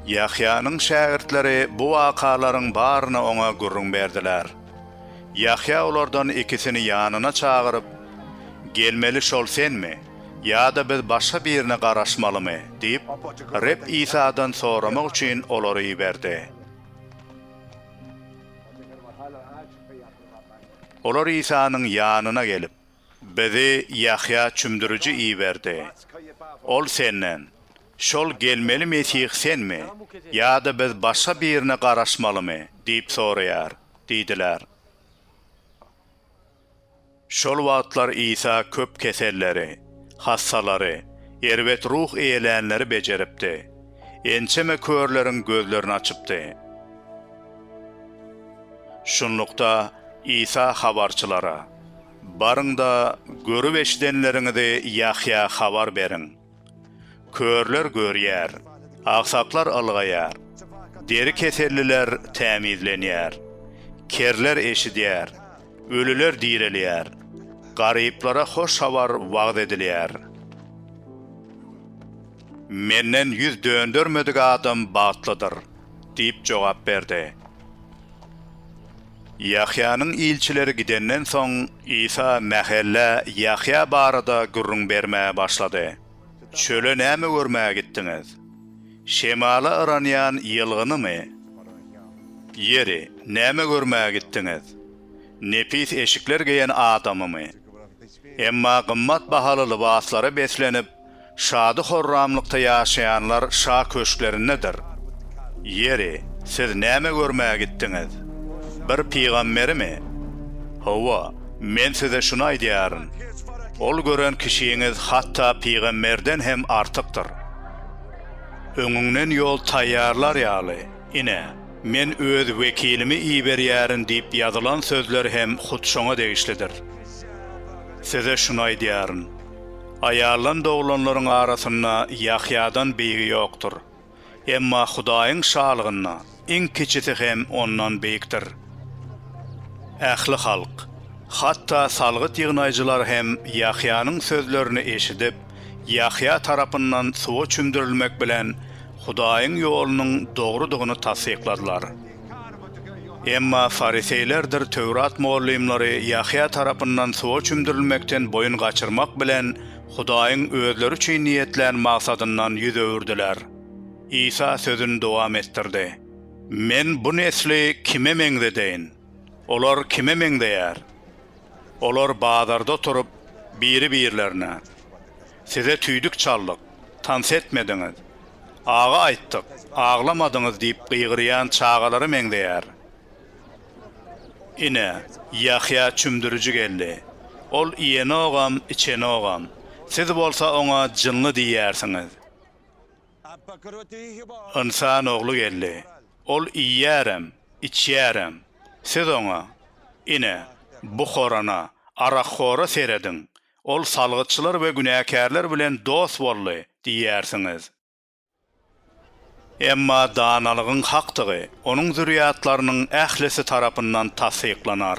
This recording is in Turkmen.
Ýahýanyň şägirtleri bu wakalaryň baryny oňa gürrüň berdiler. Ýahýa olardan ikisini ýanyna çagyryp, Gelmeli şol senmi, ýa-da biz başga birine garaşmalymy? diýip, Reb Isadan soramak üçin olary iberdi. Olar Isanyň ýanyna gelip. Bizi Ýahýa çümdüriji iberdi. Ol senden, Şol gelmeli Mesih senmi, ýa-da biz başga birine garaşmalymy? diýip soraýar diýdiler. Şol wagtlar Isa köp keselleri, hassalary, erbet ruh eýlänleri bejeripdi. Ençeme körleriň gözlerini açypdy. Şunlukda, Isa habarçylara. Baryň-da, görüp-eşidenleriňizi Ýahýa habar beriň. Körler görýär, agsaklar ylgaýar, deri keselliler tämizlenýär, kerler eşidýär, ölüler direlýär, garyplara hoş habar wagyz edilýär. Menden ýüz döndermedik adam bagtlydyr! diýip jogap berdi. Ýahýanyň ilçileri gidenden soň, Isa mähellä Ýahýa barada gürrüň bermäge başlady, Çöle näme görmäge gitdiňiz? Şemala yranýan ýylgynymy? Ýeri, näme görmäge gitdiňiz? Nepis eşikler geýen adamymy? Emma gymmat bahaly lybaslara beslenip, Şady-horramlykda ýaşaýanlar şa köşklerindedir. Ýeri, siz näme görmäge gitdiňiz? Bir pygamberimi? Hawa, men size şuny aýdýaryn, ol gören kişiňiz hatda pygamberden hem artykdyr. Öňüňden ýol taýýarlar ýaly, ine, men öz wekilimi iberýärin diýip ýazylan sözler hem hut şoňa degişlidir. Size şuny aýdýaryn. Aýaldan doglanlaryň arasynda Ýahýadan beýigi ýokdur. Emma Hudaýyň Şalygynda iň kiçisi hem ondan beýikdir. Ähli halk, hatda salgyt ýygnaýjylar hem Ýahýanyň sözlerini eşidip, Ýahýa tarapyndan suwa çümdürilmek bilen Hudaýyň ýolunyň dogrudygyny tassykladylar. Emma fariseýlerdir Töwrat mugallymlary Ýahýa tarapyndan suwa çümdürilmekden boýun gaçyrmak bilen, Hudaýyň özleri üçin niýetlän maksadyndan ýüz öwürdiler. Isa sözüni dowam etdirdi, Men bu nesli kime meňzedeýin? Olar kime meňzeýär? Olar bazarda oturyp, biri-birlerine. Size tüýdük çaldyk, tans etmediňiz, agy aýtdyk, aglamadyňyz diýip gygyrýan çagalara meňzeýär. Ine, Ýahýa çümdüriji geldi. Ol iýenogam, içenogam. Siz bolsa oňa jynly diýýärsiňiz. Ynsan Ogly geldi. Ol iýýärem, içýärem. Siz oňa, Ine, bu horana, arakhora serediň, Ol salgytçylar we günäkärler bilen dost boldy diýýärsiňiz. Emma danalygyň hakdygy onuň zürýatlarynyň ählisi tarapyndan tassyklanar.